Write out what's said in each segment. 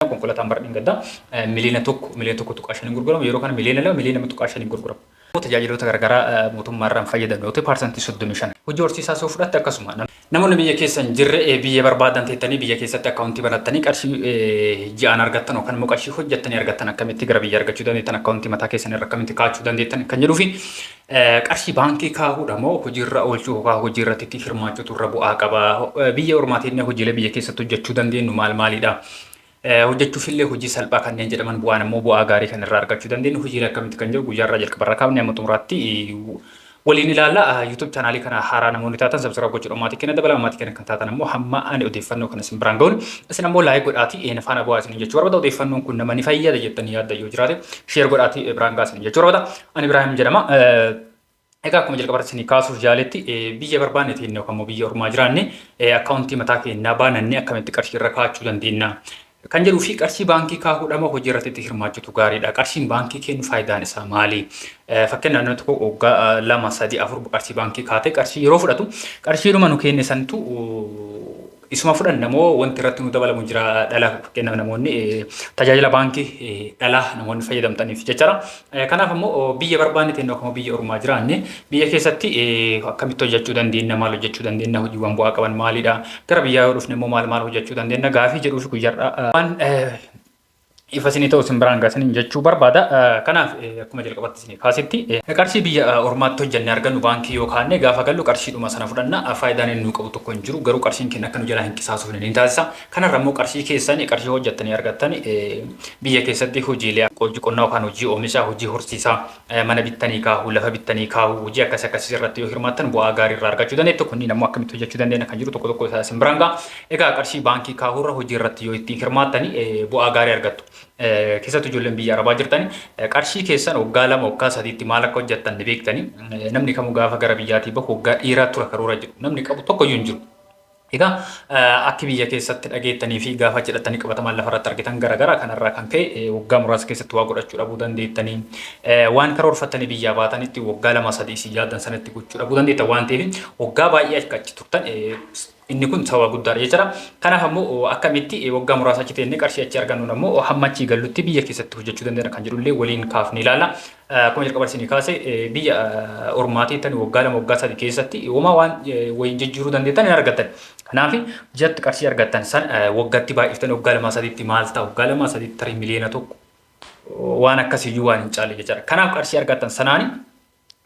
Itoophiyaa konkolataan bara dhengaddaa miliyoona tokko miliyoona tokko tuqaa shaniin gurguramu yeroo kana miliyoona lama miliyoona lama tuqaa shaniin gurguramu. Tajaajiloota garaagaraa mootummaa irraa hin fayyadamne yoo ta'e paarsantii soddomii shan. Hojii horsiisaas yoo fudhatte akkasuma. Namoonni biyya keessa hin jirre biyya barbaadan teettanii biyya keessatti akkaawuntii banattanii qarshii ji'aan argattan yookaan immoo qarshii hojjettanii argattan akkamitti gara biyya argachuu dandeettan akkaawuntii mataa keessan irra akkamitti kaa'achuu dandeettan kan jedhuu fi Qarshii baankii kaahuudha moo hojiirra oolchuu yookaan hojii irratti hirmaachuutu irra bu'aa qaba? Biyya ormaatiin hojiilee biyya keessatti hojjechuu dandeenyu maal maalidha? Hojjechuuf illee hojii salphaa kanneen jedhaman bu'aan immoo bu'aa gaarii kan irraa argachuu dandeenyu hojiilee akkamitti kan jiru guyyaa irraa jalqaba irraa kaafnee amma xumuraatti waliin ilaalla. YouTube chaanaalii kana haaraa namoonni taatan sabsiraayib gochuudhaan maatii keenya dabalaa maatii keenya kan taatan immoo hamma ani odeeffannoo kana isin biraan ga'uun isin ammoo laayik godhaatii een faana bu'aa isin jechuu barbaada odeeffannoon kun nama ni fayyada jettanii yaadda yoo jiraate sheer godhaatii biraan ga'aa isin jechuu barbaada. An Ibraahim jedhama. Egaa akkuma jalqabarratti isin kaasuuf jaaletti biyya barbaanne ta'e yookaan immoo biyya ormaa jiraanne akkaawuntii mataa keenyaa baanannee akkamitti qarshii irra kaa'achuu dandeenya. Kan jedhuu fi qarshii baankii kaa'uudhama hojii irratti itti hirmaachuutu gaariidha. Qarshiin baankii kennu faayidaan isaa maali? Fakkeenyaaf namni tokko waggaa lama sadii afur qarshii baankii kaatee qarshii yeroo fudhatu qarshii dhuma nu kenne santu Isuma fudhanna moo wanti irratti nu dabalamu jira dhala fakkeenyaaf namoonni tajaajila baankii dhala namoonni fayyadamtaniif jechaadha. Kanaaf ammoo biyya barbaanne ta'e akkuma biyya ormaa jiraanne biyya keessatti akkamitti hojjechuu dandeenya maal hojjechuu dandeenya hojiiwwan bu'aa qaban maalidha gara biyyaa yoo dhufne immoo maal maal hojjechuu dandeenya gaafii jedhuuf guyyarraa waan ifa isinii ta'u isin biraan gaasaniin jechuu barbaada. Kanaaf akkuma jalqabatti isinii kaasetti qarshii biyya ormaatti hojjannee argannu baankii yoo kaanne gaafa gallu qarshiidhuma sana fudhanna faayidaan inni nuu qabu tokko hin jiru garuu qarshiin keenya akka nu jalaa hin qisaasofne ni taasisa. Kanarra immoo qarshii keessan qarshii hojjattanii argattan biyya keessatti hojiilee hojii qonnaa yookaan hojii oomishaa hojii horsiisaa Mana bittanii kaahuu, lafa bittanii kaahuu, hojii akkas akkasiis irratti yoo hirmaattan bu'aa gaarii irraa argachuu dandeettu. Kunniin ammoo akkamitti hojjechuu dandeenya kan jiru tokko tokko isaa isin biraan ga'a. Egaa qarshii baankii kaahuu irra hojii irratti yoo ittiin hirmaattani bu'aa gaarii argattu. Keessattuu ijoolleen biyya arabaa jirtani qarshii keessan waggaa lama waggaa sadiitti maal akka hojjettan ni beektani. Namni kamuu gaafa gara biyyaatii bahu waggaa dheeraa tura karoora jedhu namni qabu tokko iyyuu hin jiru. Egaa akki biyya keessatti dhageettanii fi gaafa jedhattanii qabatamaan lafa irratti argitan gara gara kanarraa kan ka'e waggaa muraasa keessatti waa godhachuu dhabuu dandeettanii waan karoorfattanii biyyaa baatanitti waggaa lama sadii isin yaaddan sanatti gochuu dhabuu dandeettan waan ta'eef waggaa baay'ee akka achi turtan inni kun sababa guddaadha jechuudha. Kanaaf ammoo akkamitti waggaa muraasa achi teennee qarshii achi argannuun ammoo hamma achii gallutti biyya keessatti hojjechuu dandeenya kan jedhullee waliin kaafnee ilaalla. Akkuma jalqaba isinii kaase biyya ormaa teettani waggaa lama waggaa sadi keessatti homaa waan wayiin jijjiiruu dandeettan hin argattan. Kanaaf jatti qarshii argattan san waggatti baay'iftani waggaa lamaa sadiitti maal ta'a waggaa lamaa sadiitti tarii miliyoona tokko waan akkasiyyuu waan hin caalle jechaadha. Kanaaf qarshii argattan sanaani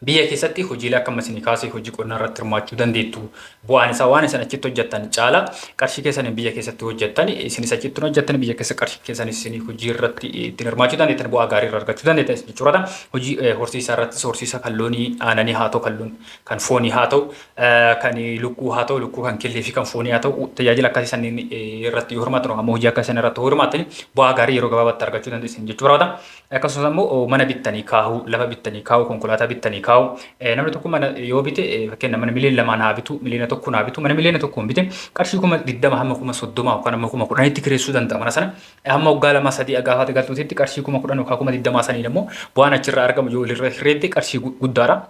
biyya keessatti hojiilee akka amma isinii kaase hojii qonnaa irratti hirmaachuu dandeettu. Bu'aan isaa waan isin achitti hojjettan caala. Qarshii keessaniin biyya keessatti hojjettani. Isinis achi ittiin hojjettani biyya keessa qarshii keessanis isin hojii irratti ittiin hirmaachuu dandeettani. Bu'aa gaarii irraa argachuu dandeettani isin jechuudha. Hojii eh, horsiisaa irrattis horsiisa kan loonii aananii haa ta'u kan loon kan foonii haa ta'u eh, kan lukkuu haa ta'u lukkuu kan killee fi kan foonii haa ta'u tajaajila akkasii sanniin eh, irratti yoo hirmaattan yookaan immoo hojii akkasii sana irratti yoo hirmaattani bu'aa gaarii yeroo gabaabaatti argachuu dandeessan jechuu barbaada. Akkasumas ammoo mana bittanii kaahuu, lafa bittanii kaahuu, konkolaataa bittanii kaahuu. Namni tokko mana yoo bite fakkeenya mana miliyoona lamaan haa bitu, miliyoona tokkoon haa bitu, mana miliyoona tokkoon bite qarshii kuma digdama hamma kuma soddoma yookaan hamma kuma kudhanitti kireessuu danda'a mana sana. Hamma waggaa lama sadii agaafaate galtuutitti qarshii kuma kudhan yookaan kuma digdamaa saniin ammoo bu'aan achirraa argamu yoo walirra hirreebde qarshii guddaadha.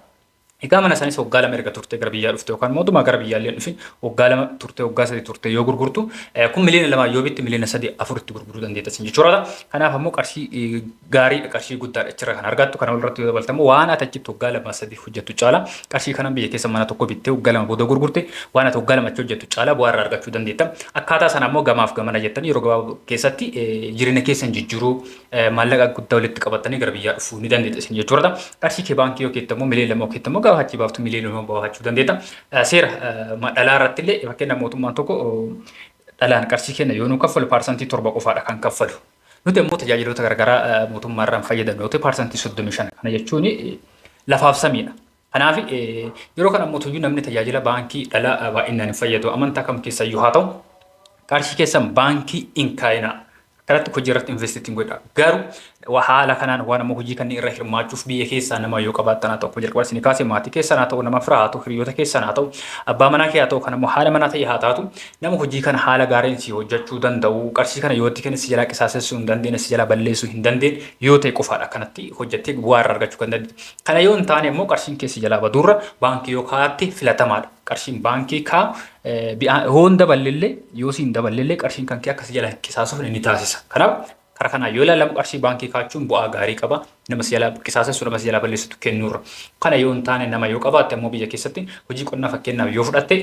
Egaa mana isaaniis waggaa lama erga turtee gara biyyaa dhufte yookaan mootummaa gara biyyaa illee hin dhufin waggaa lama turtee waggaa sadii turtee yoo gurgurtu kun miliyoona lamaa yoo bitti miliyoona sadii afuritti gurguruu dandeetta sin jechuudha ta'a. Kanaaf ammoo qarshii gaariidha qarshii guddaadha achirra kan argattu kana walirratti yoo dabaltamu waan ati achitti waggaa lama sadii hojjettu caala qarshii kanan biyya keessa mana tokko bittee waggaa lama booda gurgurte waan ati waggaa lama achi hojjettu caala bu'aa irraa argachuu dandeetta. Akkaataa sana ammoo gamaaf gamana jettanii yeroo gabaabaa keessatti jireenya keessan jijjiiruu maallaqa guddaa walitti qabattanii gara biyyaa dhufuu ni dandeetta isin jechuudha. Qarshii kee baankii yoo keetta immoo miliyoona lama yoo keetta immoo gaafa achi baaftu miliyoona lama baafachuu dandeetta. Seera dhalaa irratti illee fakkeenyaaf mootummaan tokko dhalaan qarshii kenna yoo nu kaffalu paarsantii torba qofaadha kan kaffalu. Nuti immoo tajaajiloota garaagaraa mootummaa irraan fayyadamnu yoo ta'e paarsantii soddomii shan kana jechuun lafaaf samiidha. Kanaafi, yeroo kana mootuyyuu namni tajaajila baankii dhala baay'inaan hin fayyadu. Amantaa kam keessayyuu haa ta'u, qarshii keessan baankii hin kaa'inaa. Akkanatti hojii irratti invest ittiin godha. Garuu wa- haala kanaan waan amma hojii kanneen irra hirmaachuuf biyya keessaa nama yoo qabaattan haa ta'u akkuma jalqaba isin kaase maatii keessan haa ta'u nama firaa haa ta'u hiriyoota keessan haa ta'u abbaa manaa kee haa ta'u kan ammoo haala manaa ta'e haa taatu nama hojii kana haala gaariin si hojjechuu danda'u qarshii kana yoo itti kenne si jalaa qisaasessuu hin dandeenye si jalaa balleessuu hin dandeenye yoo ta'e qofaadha akkanatti hojjettee bu'aa irraa argachuu kan dandeenye. Kana yoo hin taane immoo qarshiin keessi jalaa baduurra baankii yoo kaa'atte filatamaadha. Qarshiin baankii kaa'u yoo hin daballillee yoo si hin daballillee qarshiin kan kee akka si jalaa hin qisaasuuf ni taasisa. Kanaaf karaa kanaan yoo ilaalamu qarshii baankii kaa'achuun bu'aa gaarii qaba. Nama si jalaa qisaasessu nama si jalaa balleessitu kennuurra. Kana yoo hin taane nama yoo qabaatte ammoo biyya keessatti hojii qonnaa fakkeenyaaf yoo fudhatte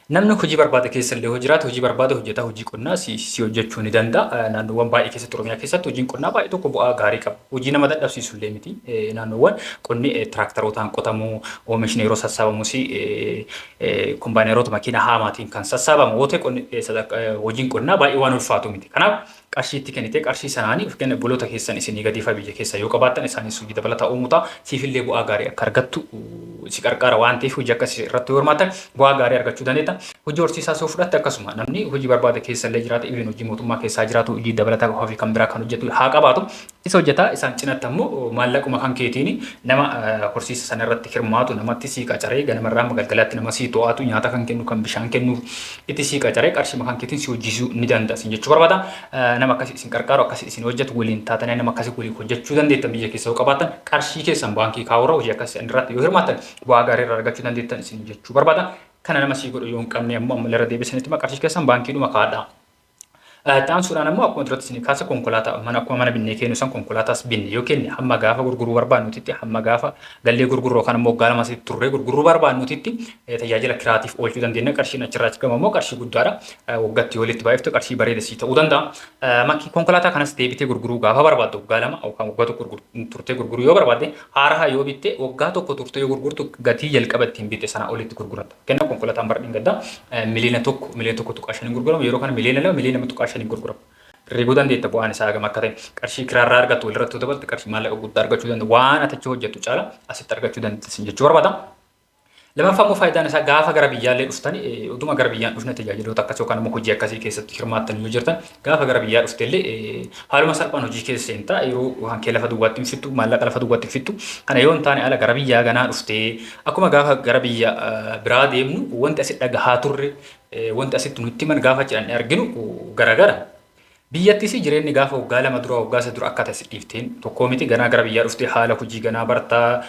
Namni hojii barbaada keessa illee yoo jiraate hojii barbaada hojjetaa hojii qonnaa si, si hojjechuu ni danda'a. Eh, Naannoowwan baay'ee keessatti Oromiyaa keessatti hojiin qonnaa baay'ee tokko bu'aa gaarii qaba. Hojii nama dadhabsiisu illee miti. Eh, Naannoowwan qonni eh, tiraaktarootaan qotamu, oomishni yeroo sassaabamus eh, eh, kombaayineroota makiina haamaatiin kan sassaabamu yoo ta'e qonni, eh, sadarka- eh, hojiin qonnaa baay'ee waan ulfaatu miti. Kanaaf qarshii itti kennite qarshii sanaani fkn obboloota keessan isinii gadii faa biyya keessaa yoo qabaattan isaaniis hojii dabalataa uumuu ta'a siif illee bu'aa gaarii akka argattu si qarqaara waan ta'eef hojii akkasii irratti yoo hirmaattan bu'aa gaarii argachuu dandeetta hojii horsiisaas yoo fudhatte akkasuma namni hojii barbaada keessa illee jiraata even hojii mootummaa keessaa jiraatu hojii dabalataa ofii kan biraa kan hojjetu haa qabaatu Isa hojjetaa isaan cinatti ammo maallaquma kan keetiini nama horsiisa sana irratti hirmaatu namatti sii qacaree ganama irraa hamma galgalaatti nama sii to'atu nyaata kan kennu kan bishaan kennuuf itti sii qacaree qarshima kan keetiin si hojjisuu ni danda'a isin jechuu barbaada nama akkasi isin qarqaaru akkasi isin hojjetu waliin taatanii nama akkasi waliin hojjechuu dandeettan biyya keessa yoo qabaattan qarshii keessan baankii kaa'uurra hojii akkasi isin irratti yoo hirmaattan bu'aa gaarii irraa argachuu dandeettan isin jechuu barbaada kana nama sii godhu yoo hin qabne ammoo ammallee irra deebisanitti qarshii keessan baankiidhuma kaa'adhaa. Itti aansuudhaan ammoo akkuma duratti isin kaasa konkolaataa mana akkuma mana binnee kennu san konkolaataas binne yoo kenne hamma gaafa gurguruu barbaadnutitti hamma gaafa gallee gurgurru yookaan ammoo waggaa lama asitti turree gurguruu barbaadnutitti tajaajila kiraatiif oolchuu dandeenya qarshiin achirraa argamu ammoo qarshii guddaadha waggatti yoo walitti baay'iftu qarshii bareeda sii ta'uu danda'a. Makki konkolaataa kanas deebitee gurguruu gaafa barbaaddu waggaa lama yookaan waggaa tokko turtee gurguruu yoo barbaadde haaraha yoo bitte waggaa tokko turtee yoo gurgurtu gatii jalqaba ittiin bitte sana olitti gurgurata. Kenna konkolataan bara dhengadda miliyoona tokko miliyoona tokko tuqaa shaniin gurguramu yeroo kana miliyoona lama miliyoona lama tuqaa shaniin gurgurama. Reebuu dandeetta bu'aan isaa hagam akka ta'e qarshii kiraarraa argattu walirratti dabalte qarshii maallaqa guddaa argachuu dandeenya waan ati achi hojjettu caala asitti argachuu dandeessin jechuu barbaada. Lamaffaa immoo faayidaan isaa gaafa gara biyyaallee dhuftani utuma gara biyyaan dhufne tajaajiloota akkasii yookaan immoo hojii akkasii keessatti hirmaattan yoo jirtan Gaafa gara biyyaa dhuftellee haaluma salphaan hojii kee seenta. Yeroo waan kee lafa duwwaatti hin fixxu, maallaqa lafa duwwaatti hin fixxu. Kana yoo hin taane ala gara biyyaa ganaa dhuftee akkuma gaafa gara biyya biraa deemnu wanti asi dhagahaa turre wanti asitti nutti himan gaafa achi dhannee arginu garagara. Biyyattis jireenyi gaafa waggaa lama dura waggaa isa dura akka ta'e si dhiifteen tokkoo miti ganaa gara biyyaa dhuftee haala hojii ganaa bartaa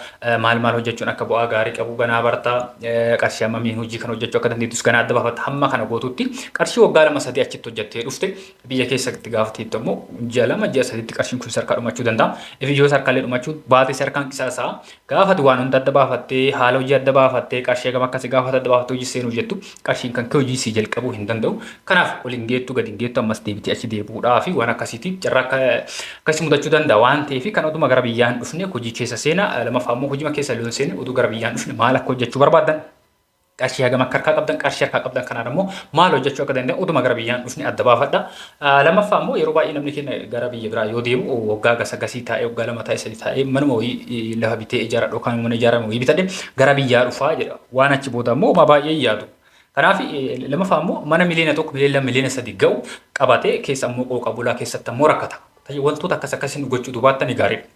Maal maal hojjechuun akka bu'aa gaarii qabu ganaa barta. Qarshii hammamiin hojii kana hojjechuu akka dandeettus ganaa adda baafatta. Hamma kana gootutti qarshii waggaa lama sadii achitti hojjettee dhufte biyya keessatti gaafa teettu ammoo ji'a lama ji'a sadiitti qarshiin kun sarkaa dhumachuu danda'a. Ifi yoo sarkaallee dhumachuu baate sarkaan qisaasaa. Gaafati waan hunda adda baafattee haala hojii adda baafattee qarshii hagam akkasi gaafata adda baafattee hojii seenuuf jettu Qarshiin kan kee hojii sii jalqabuu hin danda'u. Kanaaf ol hin geettu, gad hin geettu, ammas deebitee achi deebi'uudhaa fi waan akkasiitiif carraa akka akkasii mudachuu danda'a waan ta'eef kan oduma gara biyyaa hin dhufne hojii keessa seena. Lamaffaa immoo hojima keessa illee hin seenne oduu gara biyyaa hin dhufne maal akka hojjechuu barbaaddan qarshii hagam akka harkaa qabdan qarshii harkaa qabdan kanaan immoo maal hojjechuu akka danda'a oduma gara biyyaa hin dhufne adda baafadha. Lammaffaa immoo yeroo baay'ee namni keenya gara biyya biraa yoo deemu waggaa gasa gasii taa'ee waggaa lama taa'ee sadi taa'ee manuma wayii lafa bitee ijaara dhookaan mana ijaarame wayii bitadhe gara biyyaa dhufaa jedha. Waan achi booda immoo homaa baay'ee hin yaadu. Kanaaf lammaffaa immoo mana miliyoona tokko miliyoona lama miliyoona sadi ga'u qabatee keessa immoo qooqa bulaa keessatti immoo rakkata. Wantoota akkas akkasii nu gochuu dubaattan gaariidha.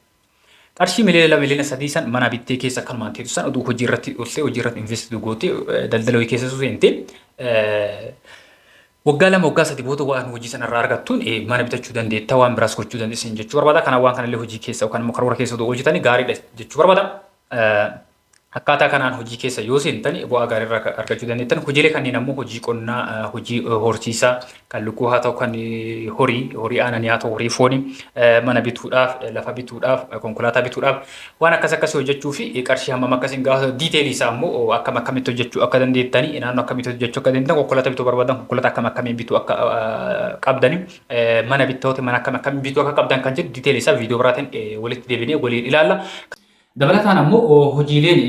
Qarshii miliyoona lama miliyoona sadii san mana bittee keessa akkanumaan teetu san oduu hojii irratti oltee hojii irratti investitu goote daldala hojii keessa seente waggaa lama waggaa sadi booda waan hojii sana irraa argattuun mana bitachuu dandeetta waan biraas gochuu dandeessin jechuu barbaada. Kana waan kanallee hojii keessa yookaan immoo karoora keessa oduu hojjetanii gaariidha jechuu barbaada. Akkaataa kanaan hojii keessa yoo seentani bu'aa gaarii irraa argachuu dandeettan. Hojiilee kanneen ammoo hojii qonnaa, hojii horsiisaa kan lukkuu haa ta'u kan horii, horii aananii haa ta'u horii fooni, mana bituudhaaf, lafa bituudhaaf, konkolaataa bituudhaaf waan akkas akkasii hojjechuu fi qarshii hammam akkas hin gaafatu. Diiteelii isaa ammoo akkam akkamitti hojjechuu akka dandeettani, naannoo akkamitti hojjechuu akka dandeettan, konkolaataa bituu barbaadan konkolaataa akkam akkamii bituu akka qabdani, mana bittoota mana akkam akkamii bituu akka qabdan kan jedhu diiteelii isaa viidiyoo biraatiin walitti deebinee waliin ilaalla. Dabalataan ammoo hojiileen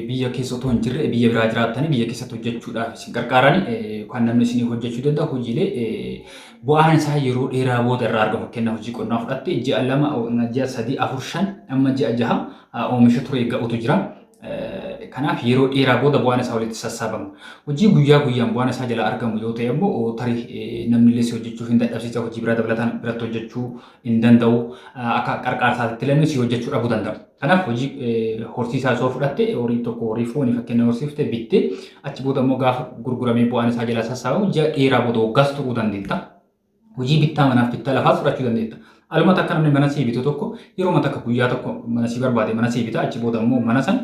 biyya keessa otoo hin jirre biyya biraa jiraattanii biyya keessatti hojjechuudhaaf isin gargaaran kan namni isinii hojjechuu danda'u hojiilee bu'aan isaa yeroo dheeraa booda irraa argamu fakkeenyaaf hojii qonnaa fudhatte ji'a lama ji'a sadii afur shan amma ji'a jaha oomisha ture ga'utu jira. Kanaaf yeroo dheeraa booda bu'aan isaa walitti sassaabama. Hojii guyyaa guyyaan bu'aan isaa jalaa argamu yoo ta'e immoo tarii namni illee si hojjechuuf hin dadhabsiisa hojii biraa dabalataan biratti hojjechuu hin danda'u. Akka qarqaarsaatitti illee si hojjechuu dhabuu danda'a. Kanaaf hojii horsiisaa osoo fudhatte horii tokko horii foonii fakkeenya horsiifte bitte achi booda immoo gaafa gurguramee bu'aan isaa jalaa sassaabamu ji'a dheeraa booda waggaas turuu dandeetta. Hojii bittaa manaaf bittaa lafaas fudhachuu dandeetta. Aluma takka namni mana sii bitu tokko yeroo takka guyyaa tokko mana sii barbaade mana sii bita achi booda immoo mana san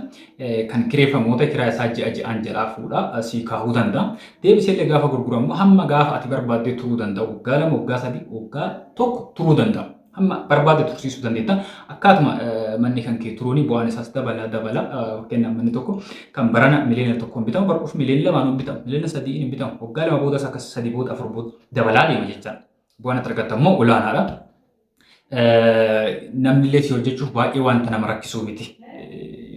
kan kireeffamoota kiraa isaa ji'a ji'aan jalaa fuudha sii kaahuu danda'a. Deebiseellee gaafa gurguramu hamma gaafa ati barbaaddee turuu danda'a. Waggaa lama, waggaa sadii, waggaa tokko turuu danda'a. Hamma barbaadde tursiisuu dandeetta. Akkaatuma manni kan kee turuuni bu'aan isaas dabala dabala. Fakkeenyaaf manni tokko kan barana miliyoona tokkoon bitamu bara dhufu miliyoona lamaan hin bitamu. Miliyoona sadiin hin bitamu. Waggaa lama boodas akkas sadii booda afur booda dabalaa deema jechaadha. Bu'aan ati argattu ammoo olaanaadha. Namnillee si hojjechuuf baay'ee wanta nama rakkisuu miti.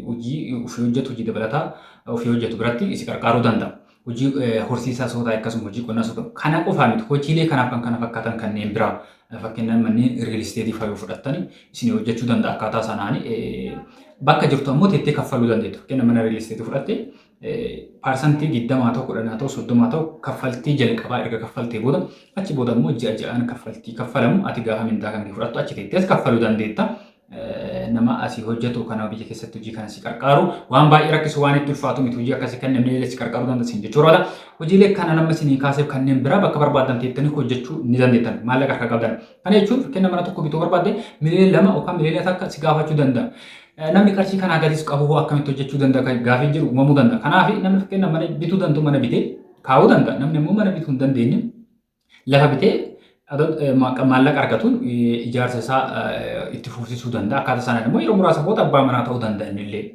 Hojii ofii hojjetu hojii dabalataa ofii hojjetu biratti si qarqaaruu danda'a. Hojii horsiisaa sootaa akkasuma hojii qonnaa sootaa kana qofaa miti hojiilee kanaaf kan kana fakkaatan kanneen biraa fakkeenyaaf manneen riil isteetii fayyoo fudhattanii isin hojjechuu danda'a akkaataa sanaan bakka jirtu ammoo teettee kaffaluu dandeettu. Fakkeenyaaf mana riil isteetii fudhatte Parsantii 20 haa ta'u, 10 haa ta'u, 30 haa ta'u kaffaltii jalqabaa erga kaffaltee booda achi booda immoo ji'a ji'aan kaffaltii kaffalamu ati gaafa mindaa kan kee fudhattu achi teettees kaffaluu dandeetta. Nama asii hojjetu kana biyya keessatti hojii kana si qarqaaru waan baay'ee rakkisu waan itti ulfaatu miti hojii akkasii kan namni si qarqaaruu dandeessin jechuu irraa hojiilee kana nama isinii kaaseef kanneen biraa bakka barbaadan teettanii hojjechuu ni dandeettan maallaqa harka qabdan. Kana jechuun fakkeenya mana tokko bituu barbaadde miliyoona lama yookaan miliyoona takka si gaafachuu danda'a. Namni qarshii kanaa gadis qabu hoo akkamitti hojjechuu danda'a kan gaafiin jiru uumamuu danda'a. Kanaaf namni fakkeenyaaf mana bituu danda'u mana bitee kaa'uu danda'a. Namni immoo mana bituu hin dandeenye lafa bitee maallaqa argatuun ijaarsa isaa itti fufsiisuu danda'a. Akkaataa sanaan immoo yeroo muraasa booda abbaa manaa ta'uu danda'a inni illee.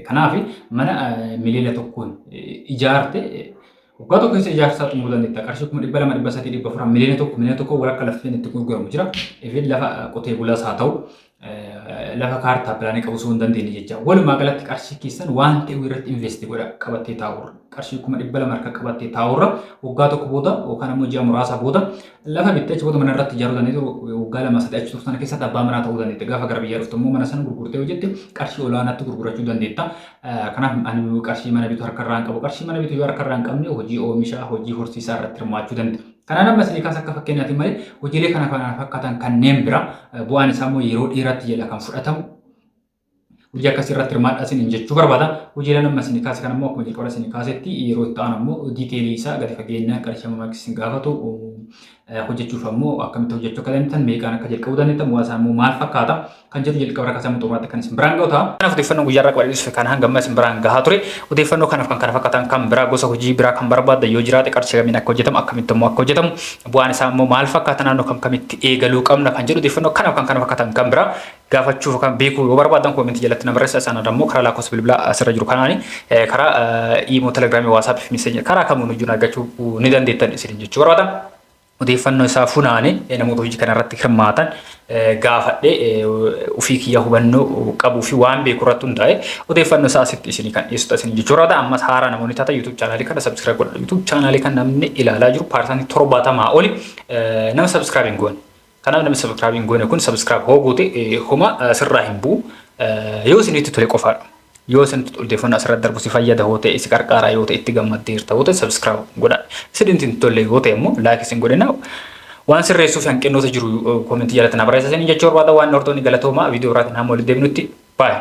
Kanaaf mana miliyoona tokkoon ijaarte Waggaa tokko keessa ijaarsa isaa xumuruu dandeetta. Qarshii kuma dhibba lama dhibba sadii dhibba afur miliyoona tokko miliyoona tokko walakka lafteen itti gurguramu jira. Ifin lafa qotee bulaas haa ta'u lafa kaartaa pilaanii qabu osoo hin dandeenye jecha. Walumaa galatti qarshii keessan waan ta'e irratti investi godha qabattee taa'urra. Qarshii kuma dhibba lama harka qabattee taa'urra waggaa tokko booda yookaan ammoo ji'a muraasa booda Lafa bittee achi booda mana irratti ijaaruu dandeetti waggaa lama sadii achi turtan keessatti abbaa manaa ta'uu dandeetti. Gaafa gara biyyaa dhuftu immoo mana sana gurgurtee yoo jette qarshii olaanaatti gurgurachuu dandeetta. Kanaaf ani qarshii mana bitu harka irraa hin qabu. Qarshii mana bitu yoo harka irraa hin qabne hojii oomishaa, hojii horsiisaa irratti hirmaachuu dandeenya. Kanaan amma isinii kaasa akka fakkeenyaati malee hojiilee kana kana fakkaatan kanneen bira bu'aan isaa immoo yeroo dheeraatti jala kan fudhatamu hojii akkasii irratti hirmaadhaa isiniin jechuu barbaada. Hojiileen amma isin kaase kan ammoo akkuma jalqaba isin kaasetti yeroo itti aanu ammoo diiteelii isaa gadi fageenyaan qarshii amma maakis isin gaafatu hojjechuuf ammoo akkamitti hojjechuu akka dandeettan meeqaan akka jalqabuu dandeettan bu'aa isaa ammoo maal fakkaata kan jedhu jalqaba irra kaasee amma xumuraatti kan isin biraan ga'u ta'a. Kanaaf odeeffannoo guyyaa irraa qabadhees kan hanga amma isin biraan gahaa ture odeeffannoo kanaaf kan kana fakkaatan kan biraa gosa hojii biraa kan barbaadda yoo jiraate qarshii kamiin akka hojjetamu akkamitti ammoo akka hojjetamu bu'aan isaa ammoo maal fakkaata naannoo kam kamitti eegaluu qabna kan jedhu odeeffannoo kanaaf kan kana fakkaatan kan biraa gaafachuuf kan beekuu yoo barbaadan koomentii jalatti na barreessa isaan adammoo karaa lakkoofsa bilbilaa asirra jiru kanaani karaa iimoo telegiraamii waasaappii fi miseenya karaa kamuun hojii argachuu ni dandeettan isin jechuu barbaada. Odeeffannoo isaa funaane namoota hojii kana irratti hirmaatan gaafadhe ofii kiyya hubannoo qabuu fi waan beeku irratti hundaa'e odeeffannoo isaa asitti isinii kan dhiyeessuta isin jechuu barbaada. Ammas haaraa namoonni taata YouTube chaanaalii kana subscribe godha. YouTube chaanaalii kan namni ilaalaa jiru paarsantii torbaatamaa oli nama subscribe hin goone. Kanaaf namni subscribe hin goone kun subscribe hoo goote homa sirraa hin bu'u. Yoo isinitti tole qofaadha. Yoo isinitti odeeffannoo asirratti darbu si fayyada hoo ta'e si qarqaaraa yoo ta'e itti gammaddeerta hoo ta'e subscribe godha. Isinitti hin tolle yoo ta'e immoo like isin godhina. Waan sirreessuuf hanqinnoota jiru koomentii jalatti na barreessa isiniin jechuu barbaada waan hortoonni galatoomaa viidiyoo biraatiin hamma walitti deebinutti baay'ee.